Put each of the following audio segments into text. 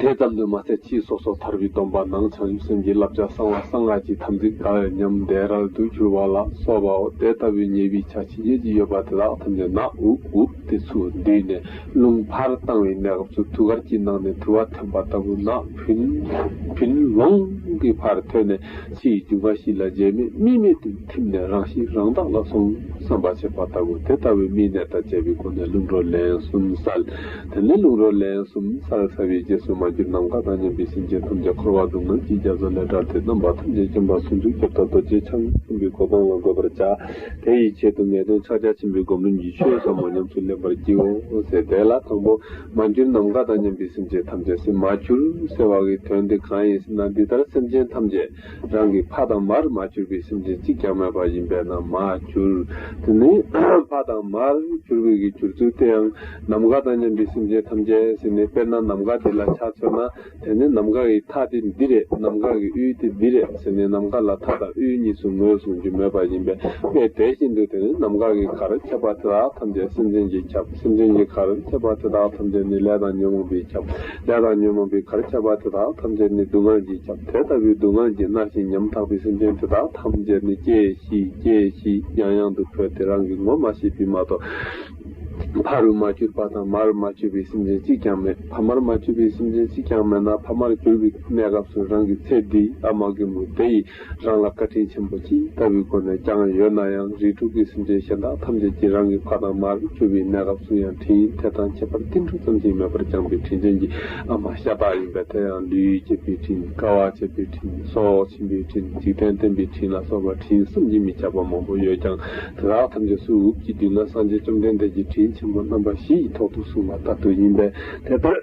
དེ་ཙམ་དུ་མ་ཟད་ཕྱིས་སོ་སོར་ཐར་པའི་སྡོམ་པ་ནང་བྱང་ཆུབ་སེམས་ཀྱི་བསླབ་བྱ་གསང་བ་གསང་སྔགས་ཀྱི་དམ་ཚིག་དགའ་བའི་ཉམས་དད་རལ་དུ་གྱུར་པ་ལ་སོགས་པའོ་དེ་ལྟ་བུའི་ཉེས་པའི་ཆ་ཇི་སྙེད་ཅིག་ཡོད་པ་དེ་དག་ཐམས་ཅད་ན་འུབ་འུབ་སྟེ་ཚུར་འདུས་ནས་རླུང་ཕར་བཏང་བའི་གནས་སྐབས་སུ་ཐུགས་ཀར་གྱི་ནང་ནས་དུ་བ་འཐེན་པ་ལྟ་བུ་ན་བུན་ལོང་གི་བར་ཐོད་ནས་ཕྱི་ཡི་རྒྱུ་འགའ་ཞིག་ལ་རྗེས་མེད་དམིགས་མེད་དུ་ཐིམ་ནས་རང་གཤིས་རང་བདག་ལ་སོང་བསམ་པ་བྱེད་པ་ལྟ་བུ་དེ་ལྟ་བུའི་དམིགས་གནད་དང་བཅས་པའི་སྒོ་ནས་རླུང་རོ་ལན་གསུམ་བསལ། དེ་ནས་རླུང་རོ་ལན་གསུམ་བསལ་བསལ་བའི་རྗེས་སུ་མ་གྱུར་ནམ་མཁའ་དང་མཉམ་པའི་སེམས་ཅན་ཐམས་ཅད་འཁོར་བ་སྡུག་བསྔལ་གྱི་རྒྱ་མཚོ་ལས་དགྲར་ཏེ་རྣམ་པ་ཐམས་ཅད་སྐྱེ་འཕགས་ཟུང་འཇུག་ཁྱབ་བདག་རྡོ་རྗེ་འཆང་གསུམ་པའི་གོ་འཕང་ལ་འགོད་པར་བྱ། དེ་ཡི་ཆེད་དུ་ངེས་དོན་ཕྱག་རྒྱ་ཆེན་པོའི་སྒོམ་རིམ་གྱི་ཆོས་ཟབ་མོ་ཉམས་སུ་ལེན་པར་བགྱིའོ། ཟེར་དེ་ལ་དང་པོ། མ་གྱུར་ནམ་མཁའ་དང་མཉམ་པའི་སེམས་ཅན་ཐམས་ཅད་སེམས་མ་གྱུར་ཟེར་བ་འི་དོན་དེ་གང་ཡིན་ཟེར་ན་འདི་ལྟར་སེམས་ཅན་ཐམས་ཅད་རང་གི་ཕ་དང་མར་མ་གྱུར་པའི་སེམས་ཅན་གཅིག་ཀྱང་མེད་པ་ཡིན་པས་ན་མ་གྱུར་དེ་ནི་ཕ་དང་མར་གྱུར་པའི་གྱུར་ཚུལ་དེའང་ནམ་མཁའ་དང་མཉམ་པའི་སེམས་ཅན་ཐམས་ཅད་ཟེར་ནས་དཔེར་ན་ནམ་མཁའ་དེ་ལ་ཆ་མཚོན་ན་དེ་ནས་ནམ་མཁའ་ཡི་མཐའ་སྟེ་འདི་རེད་ནམ་མཁའ་གི་དབུས་ཏེ་འདི་རེད་ཟེར་ནས་ནམ་མཁའ་ལ་མཐའ་དང་དབུས་གཉིས་སུ་ངོས་བཟུང་རྒྱུ་མེད་པ་ཡིན་པས་དཔེ་དེ་བཞིན་དུ་དེ་ནི་ནམ་མཁའ་གི་གར་ཁྱབ་པ་དེ་དག་ཐམས་ཅད་སེམས་ཅན་གྱིས་ཁྱབ་སེམས་ཅན་གྱི་གར་ཁྱབ་པ་དེ་དག་ཐམས་ཅད་ནི་ལས་དང་ཉོན་མོངས་པས་ཁྱབ་ལས་དང་ཉོན་མོངས་པའི་གར་ཁྱབ་པ་དེ་དག་ཐམས་ཅད་ནི་སྡུག་བསྔལ་གྱིས་ཁྱབ་དེ་ལྟ་བུའི་སྡུག་བསྔལ་གྱིས་མནར་ཞིང་ཉམ་ཐག་པའི་སེམས་ཅན་དེ་དག་ཐམས་ཅད་ནི་སྐྱེ་ཤི་སྐྱེ་ཤི་ཡང་ཡང་དུ་འཕོས་ཏེ་རང་གི་ངོ་མ་ཤེས་པས་མ་གཏོགས། ཕ་རུ་མ་གྱུར་པ་དང་མ་རུ་མ་གྱུར་པའི་སེམས་ཅན་གཅིག་ཀྱང་མེད་ཕ་མར་མ་གྱུར་པའི་སེམས་ཅན་གཅིག་ཀྱང་མེད་ན་ཕ་མར་གྱུར་པའི་གནས་སྐབས་སུ་རང་གི་ཚེ་འདི་ཨ་མ་རྒན་མོ་དེ་ཡིས་རང་ལ་བཀའ་དྲིན་ཆེན་པོ་ཅི་ལྟ་བུའི་སྒོ་ནས་བསྐྱངས་ཡོད་ན་ཡང་རིགས་དྲུག་གི་སེམས་ཅན་གཞན་དག་ཐམས་ཅད་ཀྱིས་རང་གི་ཕ་དང་མ་རུ་གྱུར་པའི་གནས་སྐབས་སུ་ཡང་དྲིན་དེ་དང་ཁྱད་པར་ཏིལ་འབྲུ་ཙམ་ཞིག་མེད་པར་བསྐྱངས་པའི་དྲིན་ཅན་གྱི་ཨ་མ་ཤ་སྟག་ཡིན་པས་དེ་ཡང་ལུས་བསྐྱེད་པའི་དྲིན་དཀའ་བ་སྤྱད་པའི་དྲིན་སྲོག་བྱིན་པའི་དྲིན་འཇིག་རྟེན་བསྟན་པའི་དྲིན་ལ་སོགས་པ་དྲིན་གསུམ་གྱིས་མི་ཁྱབ་པ་མང་པོ་ཡོད་ཀྱང། དེ་དག་ཐམས་ཅད་སུ་འུབས་ཀྱི་དུས་ན་སངས་རྒྱས་བཅོམ་ལྡན་འདས་ཀྱི་དྲིན་ཆེན་པོ་རྣམ་པ་བཞི་ཡི་ཐོག་ཏུ་གསུངས་པ་ལྟར་དུ་ཡིན་པས་དེ་ལྟར་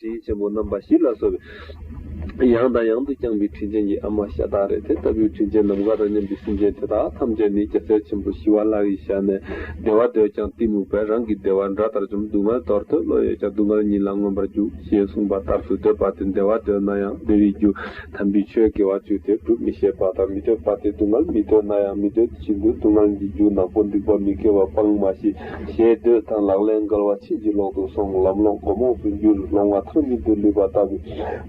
དྲིན་ཆེན་པོ་རྣམ་པ་བཞི་ལ་གསོལ་བའི། ཡང་དང་ཡང་དུ་བསྐྱངས་པའི་དྲིན་ཅན་གྱི་ཨ་མ་ཤ་སྟག་རེད་དེ་ལྟ་བུའི་དྲིན་ཅན་ནམ་མཁའ་དང་མཉམ་པའི་སེམས་ཅན་དེ་དག་ཐམས་ཅད་ནི་སྐྱ་སེར་ཆེན་པོ་ཞི་བ་ལྷ་ཡི་ཞལ་ནས་བདེ་བ་འདོད་ཀྱང་གཏི་མུག་པས་རང་གི་བདེ་བ་འདྲ་ལྟར་བཅོམ་སྡུག་བསྔལ་དོར་ཐོས་བློ་ཡོད་ཀྱང་སྡུག་བསྔལ་ཉིད་ལ་མངོན་པར་རྒྱུག་ཞེས་གསུངས་པ་ལྟར་དུ་འདོད་པ་དེ་བདེ་བ་འདོད་ན་ཡང་བདེ་བའི་རྒྱུ། དམ་པའི་ཆོས་དགེ་བ་བཅུ་དེ་སྒྲུབ་མི་ཤེས་པ་དང་མི་འདོད་པ་དེ་སྡུག་བསྔལ་མི་འདོད་ན་ཡང་མི་འདོད་ཅིང་དུ་སྡུག་བསྔལ་གྱི་རྒྱུ་ནག་པོ་འགྲིག་པ་མི་དགེ་བ་སྤང་མ་ཤེས། ཞེས་འདོད་དང་ལག་ལེན་འགལ་བ་ཕྱིན་ཅི་ལོག་ཏུ་སོང་ལམ་ལོག་མགོ་རྨོངས་སུ་འགྱུར་ལོང་བ་ཐག་ཉིད་དུ་ལུས་པ་ལྟ་བུ།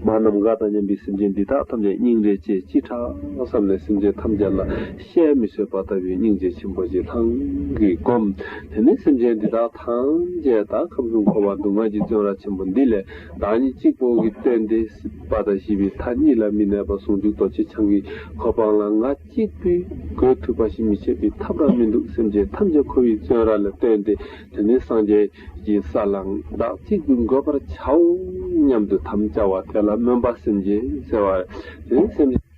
མ་རྣམས་དགའ་དང་སྙམ་པའི་སེམས་ཅན་འདི་དག་ཐམས་ཅད་སྙིང་རེ་རྗེ་ཅི་ཕྲ་བསམ་ནས་སེམས་ཅན་ཐམས་ཅད་ལ་ཤའི་མི་བཟོད་པ་ལྟ་བུའི་སྙིང་རྗེ་ཆེན་པོ་ཞིག་ལྷང་གིས་བསྒོམ། དེ་ནས་སེམས་ཅན་འདི་དག་ཐམས་ཅད་དག་ཁམས་གསུམ་འཁོར་བ་སྡུག་བསྔལ་གྱི་བཙོན་ར་ཆེན་པོ་འདི་ལས། བདག་ཉིད་གཅིག་པོ་གིས་སྟོན་ཏེ་སྲིད་པ་དང་ཞི་བའི་མཐའ་གཉིས་ལ་མི་གནས་པར་ཟུང་འཇུག་རྡོ་རྗེ་འཆང་གི་གོ་འཕང་ལ་ང་གཅིག་པུས་བགོས་ཐུབ་པ་ཞིག་མི་བྱེད་པའི་ཐབས་རང་མི་འདུག་སེམས་ཅན་ཐམས་ཅད་ཁོ་བོའི་བཙོན་ར་ལ་སྟོན་ཏེ་དེ་ནས་སངས་རྒྱས་ཀྱི་ས་ལ་བདག་གཅིག་པུས་འགོད་པར་བྱའོ་སྙམ་དུ་དམ་བཅའ་བ་དེ་ལ་སྨོན་པ་སེམས་ཅན་གསལ་བ། དེ་ནས་སེམས་ཅན།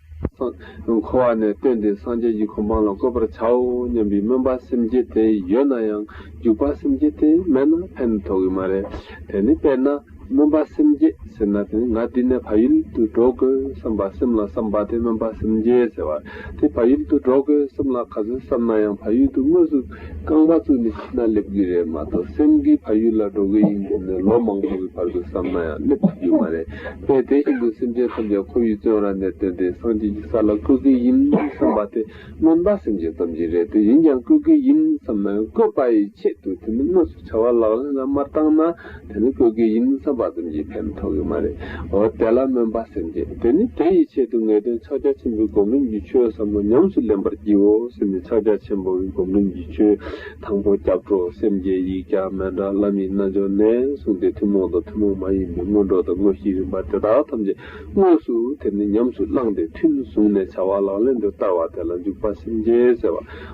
འཁོར་བ་ནས་བཏོན་ཏེ་སངས་རྒྱས་ཀྱི་གོ་འཕང་ལ་བཀོད་པར་བྱའོ་སྙམ་པའི་སྨོན་པ་སེམས་བསྐྱེད་དེ་ཡོད་ན་ཡང་འཇུག་པ་སེམས་བསྐྱེད་དེ་མེད་ན་ཕན་ཐོགས་ཀྱི་མ་རེད། དེ་ནི་དཔེར་ན་སྨོན་པ་སེམས་བསྐྱེད་ཟེར་ན་དེ་ནི་ང་འདི་ནས་བག་ཡུལ་དུ་འགྲོ་དགོས་བསམ་པ་སེམས་ལ་བསམ་པ་དེ་སྨོན་པ་སེམས་བསྐྱེད་ཟེར་བར་དེ་བག་ཡུལ་དུ་འགྲོ་དགོས་སེམས་ལ་ག་ཚོད་བསམ་ན་ཡང་བག་ཡུལ་དུ་དངོས་སུ་རྐང་པ་བཙུགས་ནས་ཤི་ན་སླེབས་ཀྱི་རེད་མ་གཏོགས་སེམས་ཀྱི་བག་ཡུལ་ལ་འགྲོ་གི་ཡིན་ཟེར་ནས་ལོ་མང་པོ་གི་བར་དུ་བསམ་ན་ཡང་སླེབས་ཐུབ་ཀྱི་མ་རེད། ངས་དེ་བཞིན་དུ་སེམས་ཅན་ཐམས་ཅད་ཁོ་བོའི་བཙོན་ར་ནས་བཏོན་ཏེ་སངས་རྒྱས་ཀྱི་ས་ལ་བཀོད་ཀྱི་ཡིན་བསམས་པ་དེ་སྨོན་པ་སེམས་ཅན་ཙམ་གྱིས་རེད་དེ་ཡིན་ཀྱང་བཀོད་ཀྱི་ཡིན་བསམས་ན་བཀོད་པ་ཡི་ཆེད་དུ་དེ་ནི་དངོས་སུ་བྱ་བ་ལག་ལེན་ལ་མ་བཏང་ན་དེ་ནི་བཀོད་ཀྱི་ཡིན་བསམས་པ་ཙམ་གྱིས་ཕན་ཐོགས་ཀྱི་མ་རེད་འོ་དེ་ལ་སྨོན་པ་སེམས་ཅན་དེ་ནི་དེ་ཡི་ཆེད་དུ་ངེས་དོན་ཕྱག་རྒྱ་ཆེན་པོའི་སྒོམ་རིམ་གྱི་ཆོས་ཟབ་མོ་ཉམས་སུ་ལེན་པར་བགྱིའོ་ཟེར་ནས་ཕྱག་རྒྱ་ཆེན་པོའི་སྒོམ་རིམ་གྱི་ཆོས་དང་པོ་སྐྱབས་གྲོགས་སེམས་བསྐྱེད་ཡིག་བརྒྱ་སྨན་འབྲང་བླ་མའི་རྣལ་འབྱོར་ལན་གསུངས་ཏེ་ཐུན་མོང་དང་ཐུན་མོང་མ་ཡིན་པའི་སྔོན་འགྲོ་དང་དངོས་གཞིའི་རིམ་པ་དེ་དག་ཐམས་ཅད་དངོས་སུ་དེར་ནི་ཉམས་སུ་བླངས་ཏེ་ཐུན་བཟུང་ནས་བྱ་བ་ལག་ལེན་དུ་བསྟར་བ་དེ་ལ་འཇུག་པ་སེམས་བསྐྱེད་ཟེར་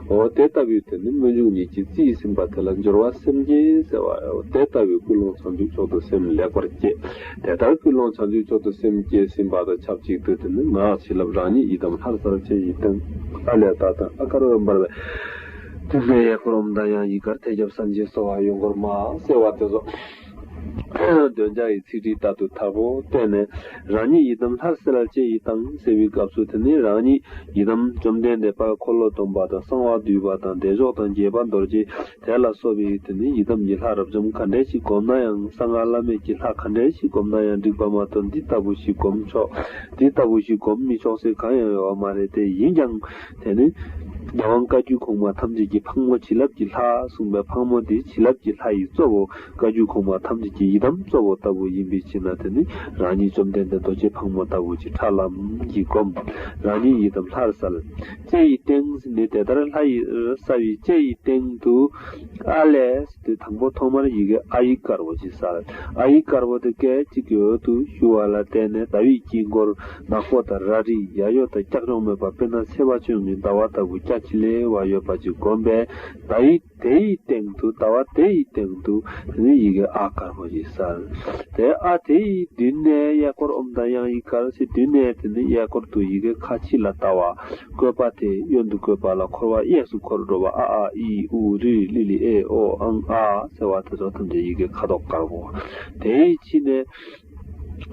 བའོ། དེ་ལྟ་བུའི་དོན་ནི་སྨོན་འཇུག་ཉིད་ཀྱི་རྩིས་ཟིན་པ་དེ་ལ་སྦྱོར་བ་སེམས་བསྐྱེད་ཟེར་བའོ། དེ་ལྟ་བུའི་ཀུན་སློང་བྱང་ཆུབ་མཆོག་ཏུ་སེམས་ལེགས་པར་བསྐྱེད། དེ་ལྟར་ཀུན་སློང་བྱང་ཆུབ་མཆོག་ཏུ་སེམས་བསྐྱེད་ཟིན་པ་དང་ཆབས་ཅིག་ཏུ་དེ་ནི་ངག་བྱིན་རླབས་རང་ཉིད་ཡི་དམ་ལྷར་གསལ་བྱེད་ཡི་དམ། ཨ་ལས་བདག་དང་ཨ་དཀར་འོད་འབར་བའི། ཐུགས་ཀའི་ཡས་ཁུ་རོམ་དང་ཡང་ཡིག་གར་ཐལ་སྐྱབས་སམ་སྦྱིན་སོགས་བར་ཡོད་འགོར་མ་གསལ་བ་དེ་སོགས་འདོན་བྱ་ཡི་ཚིག་བྲིས་ལྟར་དུ་དག་པོ་བསྟན་ནས་རང་ཉིད་ཡི་དམ་ལྷར་གསལ་བཅས་ཡི་དང་གསལ་བའི་སྐབས་སུ་དེ་ནས་རང་ཉིད་ཡི་དམ་བཅོམ་ལྡན་འདས་དཔལ་འཁོར་ལོ་སྡོམ་པ་དང་གསང་བ་འདུས་པ་དང་བདེ་མཆོག་དང་དགྱེས་པ་རྡོ་རྗེ་དེ་ལ་སོགས་པའི་དེ་ནས་ཡི་དམ་གྱི་ལྷ་རབ་འབྱམས་ག་འདྲའི་ཞིག་བསྒོམ་ན་ཡང་གསང་སྔགས་བླ་མེད་ཀྱི་ལྷ་ག་འདྲའི་ཞིག་བསྒོམ་ན་ཡང་འགྲིག་པ་མ་གཏོགས་འདི་ལྟ་བུ་ཞིག་བསྒོམ་ཆོག་འདི་ལྟ་བུ་ཞིག་བསྒོམ་མི་ཆོག་སེ་གང་ཡང་ཡོད་བ་མ་རེད་དེ་ཡིན་ཀྱང། དེ་ནི་རྒྱལ་དབང་བཀའ་བརྒྱུད་གོང་མ་ཐམས་ཅད་ཀྱི་ཕག་མོ་བྱིན་རླབས་ཀྱི་ལྷ་གསུངས་པའི་ཕག་མོ་དེ་བྱིན་རླབས་ཀྱི་ལྷ་ཡི་གཙོ་བོ་བཀའ་བརྒྱུད་གོང་མ་ཐམས་ཅད་ཀྱི་ཡི་དམ་གཙོ་བོ་ལྟ་བུ་ཡིན་པའི་ཕྱིར་ན་དེ་ནི་རང་ཉིད་བཅོམ་ལྡན་འདས་རྡོ་རྗེ་ཕག་མོ་ལྟ་བུ་ཅིག་ཁྲ་ལམ་གྱིས་བསྒོམ། རང་ཉིད་ཡི་དམ་ལྷར་གསལ། ལྕེ་ཡི་སྟེང་ནི་དེ་ལྟར་ལྷ་ཡི་ར་ས་བའི་ལྕེ་ཡི་སྟེང་དུ་ཨ་ལས། དེ་དང་པོ་ཐོག་མར་ཡི་གེ་ཨ་ཡིག་དཀར་བོ་ཞིག་གསལ། ཨ་ཡིག་དཀར་བོ་དེ་སྐད་ཅིག་གི་འོད་དུ་ཞུ་བ་ལ་བརྟེན་ནས་ཟླ་བའི་དཀྱིལ་འཁོར་ནག་པོ་དང་ར་རིའི་ཡ་གཡོ་དང་ཀྱག་ཀྱོག་མེད་པར་དཔེར་ན་སེར་བ་ཆུང་ངུའི་ཟླ་བ་ལྟ་བུ་སྐྱ་ཁྱི་ལེ་བ་ཡོད་པ་ཅིག་བསྒོམས་པས་ཟླ་ཡི་དེ་ཡི་སྟེང་དུ་ཟླ་བ་དེ་ཡི་སྟེང་དུ་དེ་ནས་ཡི་གེ་ཨ་དཀར་བོ་ཞིག་གསལ། དེ་ཨ་དེ་ཡི་མདུན་ནས་གཡས་སྐོར་ཨུམ་དང་དབྱངས་ཡིག་དཀར་ཕྱི་མདུན་ནས་དེ་ནས་གཡས་སྐོར་དུ་ཡི་གེ་ཁ་ཕྱི་ལ་བལྟ་བ། བཀོད་པ་དེ་གཡོན་དུ་བཀོད་པ་ལ་འཁོར་བ་གཡས་སུ་འཁོར་འགྲོ་བ་ཨ་ཨཱ་ཨི་ཨུ་རི་ལི་ལི་ཨེ་ཨོ་ཨང་ཨ་ཟེར་བ་དེ་ཚོ་ཐམས་ཅད་ཡི་གེ་ཁ་དོག་དཀར་པོ་དེ་ཡི་ཕྱི་ནས།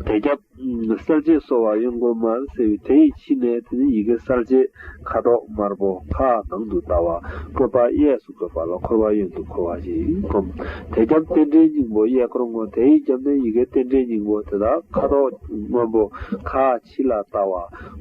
དེ་རྒྱབ། གསལ་བྱེད་གསོ་བ་གཡོན་སྒོ་དམར་སེར་དེ་ཡི་ཕྱི་ནས་དེ་ནི་ཡི་གེ་གསལ་བྱེད་ཁ་དོག་དམར་པོ་ཁ་ནང་དུ་ལྟ་བ་བཀོད་པ་གཡས་སུ་བཀོད་པ་ལ་འཁོར་བ་གཡོན་དུ་འཁོར་བ་ཞེས་བསྒོམ། དེ་རྒྱབ་རྟེན་འབྲེལ་སྙིང་པོ་གཡས་སྐོར་སྔོ་དེ་ཡི་རྒྱབ་ནས་ཡི་གེ་རྟེན་འབྲེལ་སྙིང་པོ་དེ་དག་ཁ་དོག་སྔོན་པོ་ཁ། ཕྱི་ལ་ལྟ་བ།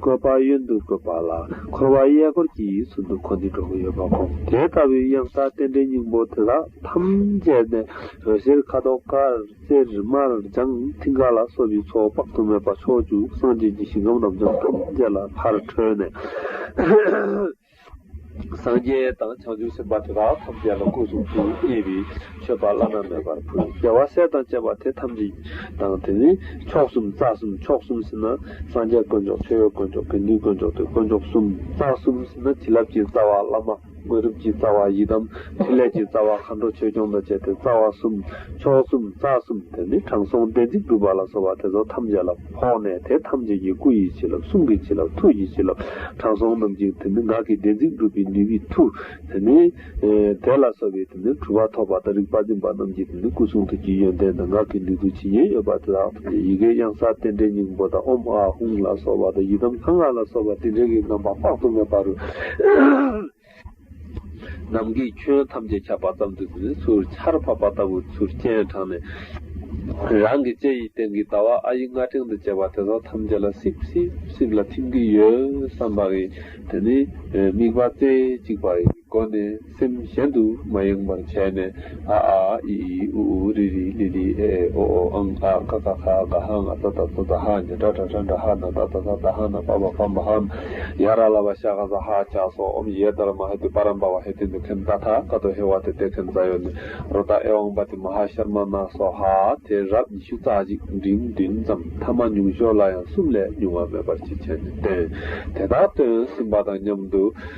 བཀོད་པ་གཡོན་དུ་བཀོད་པ་ལ་འཁོར་བ་གཡས་སྐོར་གྱི་ཡུལ་ཚུལ་འདུ་འཁོར་འདི་གྲོགས་པོ་ཡོད་པ་གོ། དེ་ལྟ་བུའི་གཡང་ས་རྟེན་འབྲེལ་སྙིང་པོ་དེ་དག་ཐམས་ཅད་ནི་འོད་ཟེར་ཁ་དོག་དཀར་རྩེར་དམར་ལྗང་མཐིང་ག་ལ་སོགས་ཀྱི་ཚོགས་དཔག་ཏུ་མེད་པ་ཕྱོགས་བཅུ་སངས་རྒྱས་ཀྱི་ཞིང་ཁམས་རབ་འབྱམས་ཐམས་ཅད་ལ་ཕར་འཕྲོས་ནས། སངས་རྒྱས་དང་བྱང་ཆུབ་སེམས་དཔའ་དེ་དག་ཐམས་ཅད་ལ་སྐུ་གསུང་ཐུགས་མཉེས་པའི་མཆོད་པ་བླ་ན་མེད་པར་ཕུལ། རྒྱལ་བ་སྲས་དང་བཅས་པ་དེ་ཐམས་ཅད་དང་དེ་ནས་མཆོག་གསུམ་རྩ་གསུམ་མཆོག་གསུམ་ཟིན་ན་སངས་རྒྱས་དཀོན་མཆོག་མཆོད་ཡོན་དཀོན་མཆོག་དགེ་འདུན་དཀོན་མཆོག་དུས་དཀོན་མཆོག་གསུམ་རྩ་གསུམ་ཟིན་ན་བྱིན་རླབས་ཀྱི་རྩ་བ་བླ་མ་དངོས་གྲུབ་ཀྱི་རྩ་བ་ཡི་དམ་ཕྲིན་ལས་ཀྱི་རྩ་བ་མཁའ་འགྲོ་ཆོས་སྐྱོང་དང་བཅས་ཏེ་རྩ་བ་གསུམ་མཆོག་གསུམ་རྩ་གསུམ་དེ་ནས་དྲང་སྲོང་བདེན་ཚིག་སྒྲུབ་པ་ལ་སོགས་པ་དེ་ཚོ་ཐམས་ཅད་ལ། འཕོངས་ནས་དེ་ཐམས་ཅད་ཀྱི་སྐུ་ཡི་བྱིན་རླབས་གསུང་གི་བྱིན་རླབས་ཐུགས་ཀྱི་བྱིན་རླབས་དྲང་སྲོང་རྣམས་ཀྱི་དེ་ནི་ངག་གི་བདེན་ཚིག་འགྲུབ་པའི་ནུས་པའི་མཐུ། དེ་ནི། དེ་ལ་སོགས་པའི་དེ་ནི་གྲུབ་པ་ཐོབ་པ་དང་རིག་པ་འཛིན་པ་རྣམས་ཀྱི་དེ་ནི་སྐུ་གསུང་ཐུགས་ཀྱི་ཡོན་ཏན་དང་ངག་གི་ནུས་མཐུ་ཇི་སྙེད་ཡོད་པ་དེ་དག་ཏུ་ནི་ཡི་གེའི་གཡང་ས་རྟེན་འབྲེལ་སྙིང་པོ་དང་ཨོམ་ཨ་ཧུང་ལ་སོགས་པ་དང་ཡི་དམ་ལྷ་སྔགས་ལ་སོགས་པ་དེ་འབྲེལ་གྱི་རྣམ་པ་དཔག་ཏུ་མེད་པ་རུ། ནམ་གྱི་ཁྱོན་ཐམས་ཅད་ཁྱབ་པ་ཙམ་དུ་ནི་ཚུར་ཆར་ཕབ་པ་ལྟ་བུར་ཚུར་སྤྱན་དྲངས་ནས། རང་གི་ལྕེ་ཡི་སྟེང་གི་ཟླ་བ་ཨ་ཡི་རྔ་ཕྲེང་དུ་བཅས་པ་དེ་དག་ཐམས་ཅད་ལ་སིབ་སིབ་སིབ་ལ་ཐིམ་གྱིན་ཡོད་བསམ་པ་ཡིན། དེ་ནས་དམིགས་པ་རྩེ་གཅིག་པ་ཡི་སྒོ་ནས་སེམས་གཞན་དུ་མ་ཡེངས་པར་བྱས་ནས། ཨ་ཨ་ཨ་ཨི་ཨི་ཨུ་ཨུ་རི་རི་ལི་ལི་ཨེ་ཨེ་ཨོ་ཨོ་ཨང་ཨ་ཀ་ཀ་ཁ་ཀ་ཧ་ང་ཙ་ཙ་ཙ་ཙ་ཧ་ཉ་ཏྲ་ཏྲ་ཏྲ་འདྲ་ཧ་ན་ད་ད་ད་ད་ཧ་ན་བ་བ་བམ་བ་ཧམ་ཡ་ར་ལ་བ་ཤ་ཁ་ཟ་ཧ་ཅ་སོ་ཨོམ་ཡེ་ད་ར་མ་ཧེ་ཏི་པ་རམ་པ་བ་ཧེ་ཏི་འདི་ཁན་ད་ཐ་ཀ་ཏོ་ཧེ་བ་ཏེ་ཏེ་ཁན་ཛ་ཡོ་ནི་རོ་ད་ཨེ་ཨོང་པ་ཏི་མ་ཧ་ཤར་མ་ན་སོ་ཧ་དེ་རབས་ཉི་ཤུ་རྩ་གཅིག་འབྲིང་བདུན་ཙམ་ཐ་མ་ཉུང་ཤོས་ལ་ཡང་གསུམ་ལས་ཉུང་བ་མེད་པར་ཅི་བྱས་ནས་བསྟན་དེ་དག་སྟོན་ཟིན་པ་དང་མཉམ་དུ།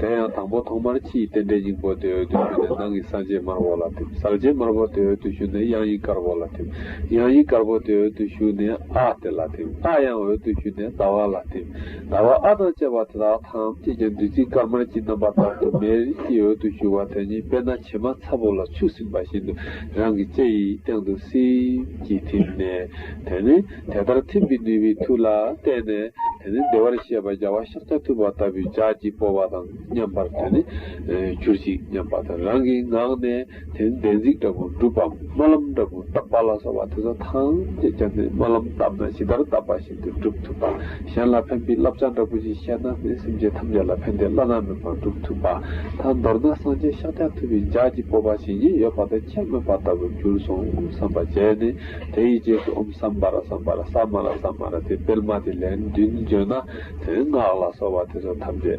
དེ་ཡང་དང་པོ་ཐོག་མར་ཕྱི་ཡི་རྟེན་འབྲེལ་སྙིང་པོ་དེའི་འོད་དུ་ཞུ་ནས་ནང་གི་གསང་ཆེན་དམར་བོ་ལ་ཐིམ། གསང་ཆེན་དམར་བོ་དེའི་འོད་དུ་ཞུ་ནས་དབྱངས་ཡིག་དཀར་བོ་ལ་ཐིམ། དབྱངས་ཡིག་དཀར་བོ་དེའི་འོད་དུ་ཞུ་ནས་ཨ་དེ་ལ་ཐིམ། ཨ་ཡང་འོད་དུ་ཞུ་ནས་ཟླ་བ་ལ་ཐིམ། ཟླ་བ་ཨ་དང་བཅས་པ་དེ་དག་ཐམས་ཅད་ཀྱང་བདུད་རྩི་དཀར་དམར་གྱི་རྣམ་པ་ལྟར་དུ་མའི་རིགས་ཀྱི་འོད་དུ་ཞུ་བ་དེ་ཉིད་དཔེར་ན་བྱེ་མ་ཚ་བོ་ལ་ཆུ་བསྲིངས་པ་བཞིན་དུ་རང་གི་ལྕེ་ཡི་སྟེང་དུ་སིང་གིས་ཐིམ་ནས་དེ་ནི། དེ་ལྟར་ཐིམ་པའི་ནུས་པའི་མཐུ་ལ་བརྟེན་ནས་དེ་ནི་བདེ་བར་གཤེགས་པ་རྒྱལ་བ་ཤཱཀྱ་ཐུབ་པ་ལྟ་བུའི་ལྗགས་ཀྱིས་སྤོ་བ་དང་མཉམ་པར་དེ་ནི་གྱུར་ཅིག་སྙམ་པ་དང་རང་གི་ངག་ནས་དེ་ནི་བདེན་ཚིག་འདྲ་པོར་སྒྲུབ་བམ་སྨོན་ལམ་འདྲ་པོ་བཏབ་པ་ལ་སོགས་པ་དེ་ཚོ་ཐམས་ཅད་ཀྱང་ནི་སྨོན་ལམ་བཏབ་ན་ཇི་ལྟར་བཏབ་པ་བཞིན་དུ་སྒྲུབ་ཐུབ་པ་གཞན་ལ་ཕན་པའི་བསླབ་བྱ་འདྲ་པོ་ཞིག་བཤད་ན་ནི་སེམས་ཅན་ཐམས་ཅད་ལ་ཕན་བདེ་བླ་ན་མེད་པར་སྒྲུབ་ཐུབ་པ་དང་མདོར་ན་སངས་རྒྱས་ཤཱཀྱ་ཐུབ་པའི་ལྗགས་ཀྱིས་སྤོ་བ་བྱིན་གྱིས་ཡོད་པ་དང་ཁྱད་སྨོས་པ་ལྟ་བུར་གྱུར་སོང་བསམ་པ་བྱས་ནས། དེའི་རྗེས་སུ་ཨུམ་སམ་བཱ་ར་སམ་བཱ་ར་ས་མ་ར་ས་མ་ར་དེ་སྤེལ་མ་དེ་ལན་བདུན་བརྗོད་ན་དེ་ནི་སྔགས་ལ་སོགས་པ་དེ་ཚོ་ཐམས་ཅད་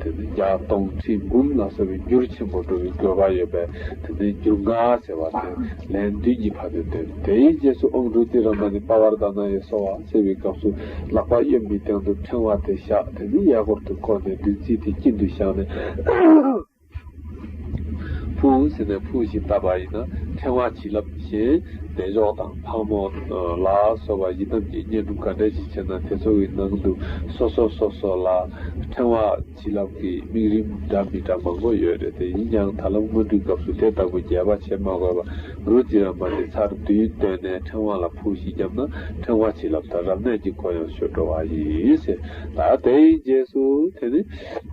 དེ་ནི་བརྒྱ་སྟོང་ཁྲི་འབུམ་ལ་སོགས་པའི་རྒྱུར་ཆེན་པོ་འགྲོ་བའི་དགོས་པ་ཡོད་པས་དེ་ནི་རྒྱུ་ལྔ་ཟེར་བ་དེ་ལན་བདུན་གྱི་བར་དུ་སྟོན། དེའི་རྗེས་སུ་ཨོང་གྲུ་ཏི་ར་མ་ནི་པ་བར་དཱ་ན་ཡེ་སོགས་བ་བསྲེ་བའི་སྐབས་སུ་ལག་པ་གཡོན་པའི་སྟེང་དུ་ཕྲེང་བ་དེ་བཞག་དེ་ནི་གཡས་སྐོར་དུ་བསྐོར་ནས་བདུད་རྩི་དེ་སྐྱིན་དུ་བཞག་ནས། ཕུའུ་ཟེར་ནས་ཕུའུ་ཞེས་བཏགས་པ་ཡིན། ཕྲེང་བ་བྱིན་རླབས་བཞིན་བདེ་མཆོག་དང་ཕག་མོ་ལ་སོགས་པ་ཡི་དམ་གྱི་བསྙེན་སྒྲུབ་ག་འདྲ་ཞིག་བྱེད་ན་དེ་ཚོ་བའི་ནང་དུ་སོ་སོ་སོ་སོ་ལ་ཕྲེང་བ་བྱིན་རླབས་ཀྱི་དམིགས་རིམ་འདྲ་མི་འདྲ་མང་པོ་ཡོད་རེད་དེ་ཡིན་ཀྱང་ད་ལམ་སྔོན་འགྲོའི་སྐབས་སུ་དེ་ལྟ་བུ་རྒྱས་པ་བྱེད་མ་དགོས་པར་རུ་རྫི་ར་མ་དེ་ཚར་བདུན་བཏོན་ནས་ཕྲེང་བ་ལ་ཕུའུ་ཞེས་བརྒྱབ་ན་ཕྲེང་བ་བྱིན་རླབས་དང་རབ་གནས་ཀྱི་སྒོ་ཡང་ཆོད་འགྲོ་བ་ཡིན། ད་དེའི་རྗེས་སུ་དེ་ནི།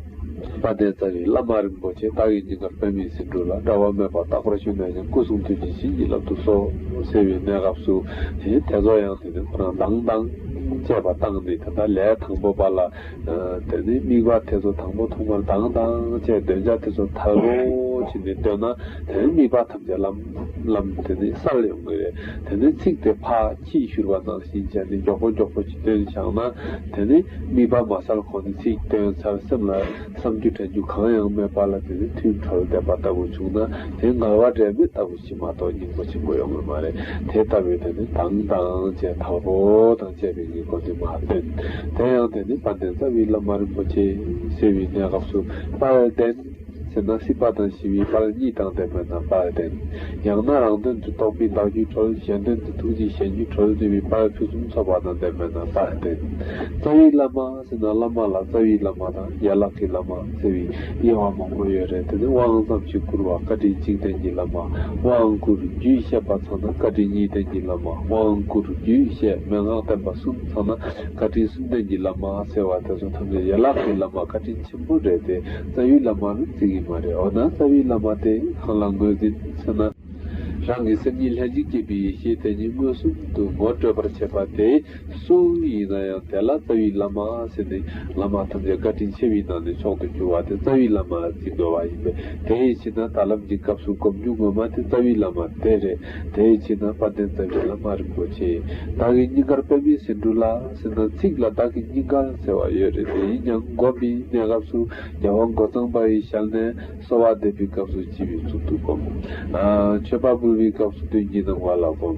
བ་ནས་རྩ་བའི་བླ་མ་རིན་པོ་ཆེ་བདག་གི་སྙིང་གར་པད་མའི་སེ་འབྲུ་ལ་དགྲ་བོ་མེད་པར་རྟག་པར་ཞུ་ནས་ཀྱང་སྐུ་གསུང་ཐུགས་ཀྱི་བྱིན་གྱིས་བརླབ་ཏུ་གསོལ། ཟེར་བའི་གནས་སྐབས་སུ། དེའི་ཐད་རྫོགས་ཡང་དེ་ནས་ཁོ་ན་དང་དང། བཅས་པ་བཏང་ནས་དེ་ལྟར་ལས་དང་པོ་པ་ལ། དེ་ནས་དམིགས་པ་དེ་ཚོ་དང་པོ་ཐོག་མར་དང་དང་བཅས་འདོན་བྱ་དེ་ཚོ་དལ་བོ་བྱས་ནས་འདོན་ན་དེ་ནས་དམིགས་པ་ཐམས་ཅད་ལམ་ལམ་དེ་ནས་སར་ཡོང་གི་རེད། དེ་ནས་ཚིག་དེ་ཕ། ཅེས་བཞུར་བ་ནང་བཞིན་བྱས་ཏེ་མགྱོགས་པོ་མགྱོགས་པོ་ཅི་ཐོན་བྱང་ན་དེ་ནི་དམིགས་པ་མ་གསལ་གོང་ནས་ཚིག་དོན་མཚར་སེམས་ལ་བསམ་རྒྱུ་དྲན་རྒྱུ་གང་ཡང་མེད་པ་ལ་དེ་ནི་ཐུན་གྲོལ་བསྡད་པ་ལྟ་བུ་བྱུང་ན་དེ་ངལ་བ་འབྲས་མེད་ལྟ་བུ་བྱེད་མ་གཏོགས་སྙིང་པོ་ཆེན་པོ་ཡོང་གི་མ་རེད་དེ་ལྟ་བུའི་དོན་ནི་དང་དང་བཅས་དྭགས་པོ་དང་བཅས་པའི་ཉེས་སྐོར་དེ་མ་སྟོན། དེ་ཡང་དེ་ནི་དཔལ་ལྡན་རྩ་བའི་བླ་མ་རིན་པོ་ཆེ་གསལ་བའི་གནས་སྐབས་སུ་དཔལ་ལྡན། ཟེར་ན་སྲིད་པ་དང་ཞི་བའི་བར་གཉིས་དང་ལྡན་པའི་རྣམ་པར་ལྡན། ཡང་ན་རང་དོན་དུ་རྟོགས་པའི་བདག་རྒྱུད་གྲོལ་གཞན་དོན་དུ་ཐུགས་རྗེས་གཞན་རྒྱུད་གྲོལ་འདུས་པའི་བར་ཕུན་སུམ་ཚོགས་པ་དང་ལྡན་པའི་རྣམ་པར་ལྡན། རྩ་བའི་བླ་མ་ཟེར་ན་བླ་མ་ལ་རྩ་བའི་བླ་མ་དང་ཡན་ལག་གི་བླ་མ་ཟེར་བའི་དབྱེ་བ་མང་པོ་ཡོད་རེད་དེ་ནི་དབང་ཙམ་ཞིག་བསྐུར་བ་བཀའ་དྲིན་གཅིག་བསྟན་གྱི་བླ་མ་དབང་བསྐུར་རྒྱུད་བཤད་པ་ཚང་ན་བཀའ་དྲིན་གཉིས་བསྟན་གྱི་བླ་མ་དབང་བསྐུར་རྒྱུད་བཤད་མན་ངག་བསྟན་པ་གསུམ་ཚང་ན་བཀའ་དྲིན་གསུམ་བསྟན་གྱི་བླ་མ་ཟེར་བ་དེ་ཚོ་ཐམས་ཅད་ཡན་ལག་གི་བླ་མ་བཀའ་དྲིན་ཆེན་པོ་རེད་དེ་རྩ་བའི་བླ་མར་བརྩི་གི་མ་རེད་འོ་ན་རྩ་བའི་བླ་མ་དེ་གང་ལ་འགོད་ཟིན་ཟེར་ན། རང་གི་སེམས་ཉིད་ལྷན་ཅིག་སྐྱེས་པའི་ཡེ་ཤེས་དེ་ཉིད་མངོན་སུམ་དུ་ངོ་སྤྲོད་པར་བྱེད་པ་དེ་སུ་ཡིན་ན་ཡང་དེ་ལ་རྩ་བའི་བླ་མ་ཟེར་ནས་བླ་མ་ཐམས་ཅད་བཀའ་དྲིན་ཆེ་བའི་ནང་ནས་མཆོག་ཏུ་གྱུར་བ་དེ་རྩ་བའི་བླ་མར་བརྩི་དགོས་པ་ཡིན་པས་དེ་ཡི་ཕྱིར་ན་ད་ལམ་གྱི་སྐབས་སུ་གོམས་འཇུག་ངོ་མ་དེ་རྩ་བའི་བླ་མ་དེ་རེད། དེའི་རྗེས་ན་དཔལ་ལྡན་རྩ་བའི་བླ་མ་རིན་པོ་ཆེས་བདག་གི་སྙིང་གར་པདྨའི་ཟེ་འབྲུ་ལ་ཟེར་ན་ཚིག་ལ་བདག་གི་སྙིང་གར་ཟེར་བ་ཡོད་རེད་དེ་ཡིན་ཀྱང་མགོ་མི་གནས་སྐབས་སུ་རྒྱལ་བ་མགོ་གཙང་པ་ཡི་ཞལ་ནས་གསོལ་བ་འདེབས་པའི་སྐབས་སུ་བགྱི་བའི་ཚུལ་དུ་བསྒོམ། མཆོད་པ་འབུལ་བའི་སྐབས་སུ་དོན་གྱི་སྣང་བ་ལ་བསྒོམ།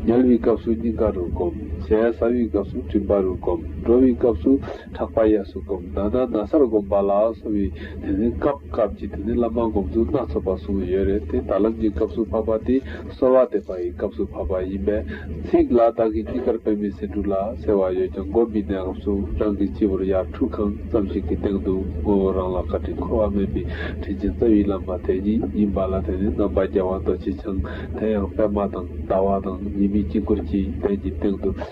ཉལ་བའི་སྐབས་སུ་སྙིང་ག་རུ་བསྒོམ། ཟས་ཟ་བའི་སྐབས་སུ་མགྲིན་པ་རུ་བསྒོམ། འགྲོ་བའི་སྐབས་སུ། ཕྲག་པ་གཡས་སུ་བསྒོམ་མདའ་ན་ན་སར་བསྒོམ་པ་ལ་སོགས་པའི་དེ་ནི་སྐབས་སྐབས་ཀྱི་དེ་ནི་བླ་མ་བསྒོམ་ཚུལ་སྣ་ཚོགས་པ་གསུངས་ཡོད་རེད་དེ་ད་ལམ་གྱི་སྐབས་སུ་བབས་པ་དེ་གསོལ་བ་འདེབས་པ་ཡི་སྐབས་སུ་བབས་པ་ཡིན་པས། ཚིག་ལ་བདག་གིས་ཅི་ལྟར་དཔེ་མི་སྲིད་འབྲུ་ལ་ཟེར་བ་ཡོད་ཀྱང་མགོ་མི་ནས་ཨང་གསུམ་རང་གི་སྤྱི་བོར་ཡར་ཁྲུ་གང་ཙམ་ཞིག་གི་སྟེང་དུ་ངོ་བོ་རང་ལ་བཀའ་དྲིན་འཁོར་བ་མེད་པའི་དྲིན་ཅན་རྩ་བའི་བླ་མ་དེ་ཉིད་ཡིན་པ་ལ་དེ་ནི་རྣམ་པ་རྒྱལ་བ་རྡོ་རྗེ་འཆང་དེ་ཡང་པདྨ་དང་ཟླ་བ་དང་ཉི་མའི་དཀྱིལ་འཁོར་གྱི་གདན་གྱི་སྟེང་དུ།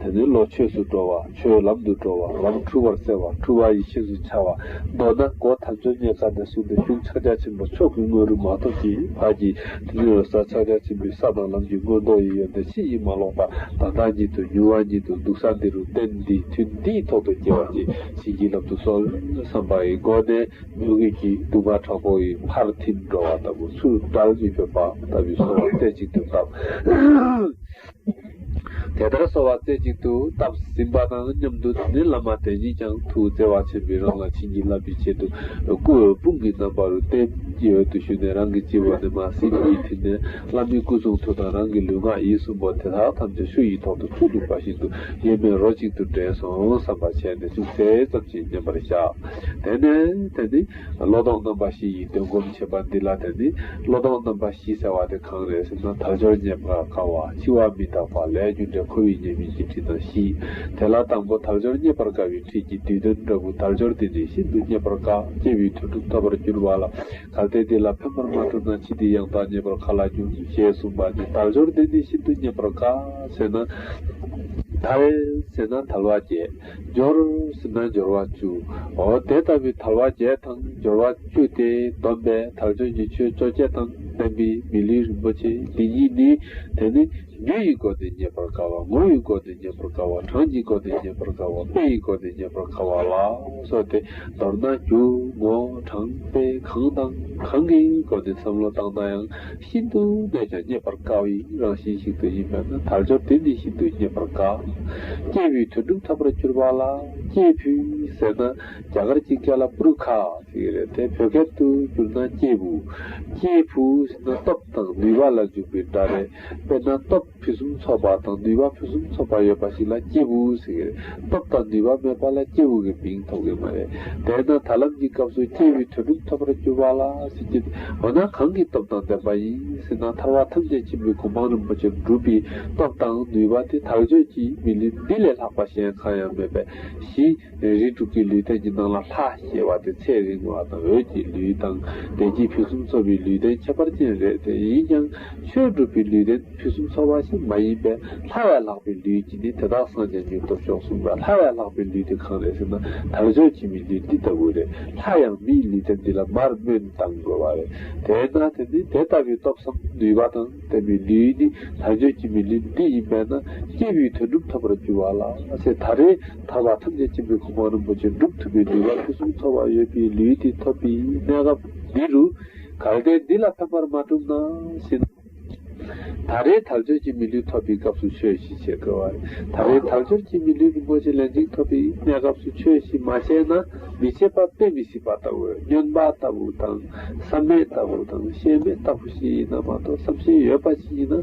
དེ་ནི་བློ་ཆོས་སུ་འགྲོ་བ་ཆོས་ལམ་དུ་འགྲོ་བ་ལམ་འཁྲུལ་བར་བསལ་བ་འཁྲུལ་བ་ཡེ་ཤེས་སུ་འཆར་བ་མདོར་ན་སྒོ་ཐམས་ཅད་རྙེད་དཀའ་ནས་བཟུང་སྟེ་ཅུང་ཕྱག་རྒྱ་ཆེན་པོ་མཆོག་གི་སྔོན་རུང་མ་ཐོབ་ཀྱི་བར་གྱི་དུས་ནི་རོལ་ས་ཕྱག་རྒྱ་ཆེན་པོའི་ས་དང་ལམ་གྱི་མངོན་རྟོགས་ཡི་ཡོ་འདི་ཕྱི་ཡིད་མ་ལོག་པ་དང་བདག་ཉིད་དུ་མྱུར་བ་ཉིད་དུ་འདུག་ས་འདི་རུ་གཏན་འདི་དུས་འདིའི་ཐོག་ཏུ་སྐྱེ་བ་སྐྱེ་བྱེད་ཀྱི་ལམ་དུ་སོང་བསམ་པ་ཡི་སྒོ་ནས་མྱུ་གུ་གྱི་དུ་མ་དྲག་པོ་ཡི་ཕར་ཐིམ་འགྲོ་བ་ལྟ་བུ་ཚུར་བཀྲལ་མི་ཕོད་པ་ལྟ་བུའི་སོང་བ་རྩེ་གཅིག་ཏུ་བཏབ། དེ་ལྟར་གསོལ་བ་རྩེ་གཅིག་ཏུ་བཏབ་ཟིན་པ་དང་མཉམ་དུ་དེ་ནས་བླ་མ་དེ་ཉིད་ཀྱང་ཐུགས་བརྩེ་བ་ཆེན་པོས་རང་ལ་བྱིན་གྱིས་བརླབ་པའི་ཆེད་དུ་སྐུ་འོད་དཔུང་གི་རྣམ་པ་རུ་རྟེན་གྱི་འོད་དུ་ཞུ་ནས་རང་གི་སྤྱི་བོ་ནས་མ་སྲིན་གྱིས་ཐིམ་ནས་བླ་མའི་སྐུ་གསུང་ཐུགས་དང་རང་གི་ལུས་ངག་ཡིད་གསུམ་པོ་དེ་དག་ཐམས་ཅད་ཤུགས་ཡིད་ཐོག་ཏུ་ཐུགས་འཁྲུགས་པ་བཞིན་དུ་གཡེལ་མེད་རོ་གཅིག་ཏུ་འདྲེས་སོང་བསམ་པར་བྱས་ནས་ཅུང་ཟད་ཙམ་གྱིས་མཉམ་པར་བཞག་དེ་ནས་དེ་ནི། བློ་དང་རྣམ་པ་བཞི་ཡིས་འདོན་སྒོམ་བྱེད་པ་འདི་ལ་དེ་ནི་བློ་དང་རྣམ་པ་བཞི་ཟེར་བ་དེ་གང་རེད་ཟེར་ན་དལ་འབྱོར་ཉེས་པར་དཀའ་བ་འཆི་བ་མི་རྟག་པ་ལས་རྒྱུ་འབྲས་ཁོ་བོའི་ཉེས་དམིགས་ཀྱི་ཁྲིད་དང་བཞི། དེ་ལ་དང་པོ་དལ་འབྱོར་རྙེད་པར་དཀའ་བའི་ཁྲིད་ཀྱི་བསྡུས་དོན་འདྲ་བུ་དལ་འབྱོར་འདི་ནི་ཤིན་ཏུ་རྙེད་པར་དཀའ་སྐྱེ་བའི་དོན་དུ་འཐོབ་པར་འགྱུར་བ་ལ་གལ་ཏེ་འདི་ལ་ཕན་པར་མ་གྲུབ་ན་ཕྱིས་འདི་ཡང་དག་རྙེད་པར་ག་ལ་འགྱུར་ཞེས་གསུངས་པ་ནི་དལ་འབྱོར་འདི་ནི་ཤིན་ཏུ་རྙེད་པར་དཀའ་ཟེར་ན་དལ་ཟེར་ན་དལ་བ་བརྒྱད། སྦྱོར། སེམས་སྣང་སྦྱོར་བ་བཅུའོ། དེ་ལྟ་བུའི་དལ་བ་བརྒྱད་དང་སྦྱོར་བ་བཅུ་སྟེ་སྡོམ་པའི་དལ་འབྱོར་གྱི་ཆོས་བཅོ་བརྒྱད་དང་ལྡན་པའི་མི་ལུས་རིན་པོ་ཆེ་འདི་ཉིད་ནི། དེ་ནི་རྒྱུ་ཡི་སྒོ་ནས་རྙེད་པར་དཀའ་བ་ངོ་བོའི་སྒོ་ནས་རྙེད་པར་དཀའ་བ་གྲངས་ཀྱི་སྒོ་ནས་རྙེད་པར་དཀའ་བ་དཔེ་ཡི་སྒོ་ནས་རྙེད་པར་དཀའ་བ་ལ་སོགས་ཏེ་མདོར་ན་རྒྱུ་ངོ་གྲངས་དཔེ་གང་དང་གང་གི་སྒོ་ནས་བསམ་བློ་བཏང་ན་ཡང། ཤིན་ཏུ་སྨད་ཀྱང་རྙེད་པར་དཀའ་བའི་རང་བཞིན་ཞིག་ཏུ་ཡིན་པས་ན་དལ་འབྱོར་དེ་ནི་ཤིན་ཏུ་རྙེད་པར་དཀའ། སྐྱེས་བུའི་དོན་སྒྲུབ་ཐབས་པར་གྱུར་པ་ལ་སྐྱེས་བུ་ཟེར་ན་རྒྱ་གར་གྱི་ཀེ་ལ་པུརུ་ཁ་ཞིག་རེད་དེ་བོད་སྐད་དུ་བསྒྱུར་ན་སྐྱེས་བུ། སྐྱེས་བུ་ཟེར་ན་སྟོབས་དང་ནུས་པ་ལ་འཇུག་པའི་སྒྲ་རེད་དཔེར་ན་སྟོབས། ཕུན་སུམ་ཚོགས་པ་དང་ནུས་པ་ཕུན་སུམ་ཚོགས་པ་ཡོད་པ་ཞིག་ལ་སྐྱེས་བུ་ཟེར་གི་རེད། སྟོབས་དང་ནུས་པ་མེད་པ་ལ་སྐྱེས་བུ་གི་མིང་ཐོགས་གི་མ་རེད། དེས་ན་ད་ལམ་གྱི་སྐབས་སུ་སྐྱེས་བུའི་དོན་གྲུབ་ཐོབ་པར་གྱུར་པ་ལ་ཟེར་གྱི་འདུག་འོ་ན་གང་གི་སྟོབས་དང་ལྡན་པ་ཡིན་ཟེར་ན་ཐར་བ་ཐམས་ཅད་ཆེན་པོའི་གོ་འཕང་རིན་པོ་ཆེར་འགྲུབ་པའི་སྟོབས་དང་ནུས་པ་དེ་དག་བརྗོད་ཀྱིས་མི་ལུས་འདི་ལས་ལྷག་པ་གཞན་གང་ཡང་མེད་པས་གཞི། རས་རིས་དྲུག་གི་ལུས་སྟན་གྱི་ནང་ལ་ལྷ་ཞེས་བ་དེ་ཚད་རིང་བ་དང་འོད་ཀྱི་ལུས་དང་བདེ་སྐྱིད་ཕུན་སུམ་ཚོགས་པའི་ལུས་སྟན་ཁྱད་པར་ཅན་རེད་དེ་ཡིན་ཀྱང་ཆོས་སྒྲུབ་པའི་ལུས་སྟན་ཕུན་སུམ་ཚོགས་པ་ཞིག་མ་ཡིན་པས་ལྷ་བས་ལྷག་པའི་ལུས་ཀྱིས་ནི་དེ་དག་སངས་རྒྱས་མྱུར་ཐོབ་ཤོག་གསུངས་པས་ལྷ་བས་ལྷག་པའི་ལུས་དེ་གང་རེད་ཟེར་ན་དར་ལྕོག་ཁྱིམ་མིའི་ལུས་འདི་ལྟ་བུ་རེད་ལྷ་ཡང་མིའི་ལུས་སྟན་འདི་ལ་མར་སྨོན་བཏང་དགོས་བ་རེད་དེས་ན་དེ་ནི་དེ་ལྟ་བུའི་སྟོབས་སམ་ནུས་པ་དང། བསྟན་པའི་ལེའུ་ནི་དག་བྱེད་ཀྱི་མི་ལེའུ་འདི་ཡིན་པས་ན་སྐྱེས་བུའི་དོན་སྒྲུབ་ཐབས་པར་འགྱུར་བ་ལ་སེ་ད་རེས་ད་བར་ཐམས་ཅད་མཁྱེན་པའི་གོ་འཕང་རིན་པོ་ཆེ་འགྲུབ་ཐུབ་པའི་ནུས་པ་ཕུན་སུམ་ཚོགས་པ་ཡོད་པའི་ལེའུ་འདི་ཐོབ་པའི་གནས་སྐབས་འདི་རུ། གལ་ཏེ་འདི་ལ་ཕན་པར་མ་གྲུབ་ན་ཤི་ན། ད་རེས་དག་བྱེད་ཀྱི་མི་ལེའུ་ཐོབ་པའི་སྐབས་སུ་ཆོས་ཤིག་བྱེད་དགོས་པ་རེད། ད་རེས་དག་བྱེད་ཀྱི་མི་ལེའུ་རིན་པོ་ཆེ་ལན་གཅིག་ཐོབ་པའི་གནས་སྐབས་སུ་ཆོས་ཤིག་མ་བྱས་ན། མི་ཕྱེད་པ་དཔེ་མི་སྲིད་པ་ལྟ་བུ་སྨྱོན་པ་ལྟ་བུ་དང་བསམ་མེད་ལྟ་བུ་དང་ཤེས་མེད་ལྟ་བུ་ཞིག་ཡིན་ན་མ་གཏོགས་བསམ་ཤེས་ཡོད་པ་ཞིག་ཡིན་ན།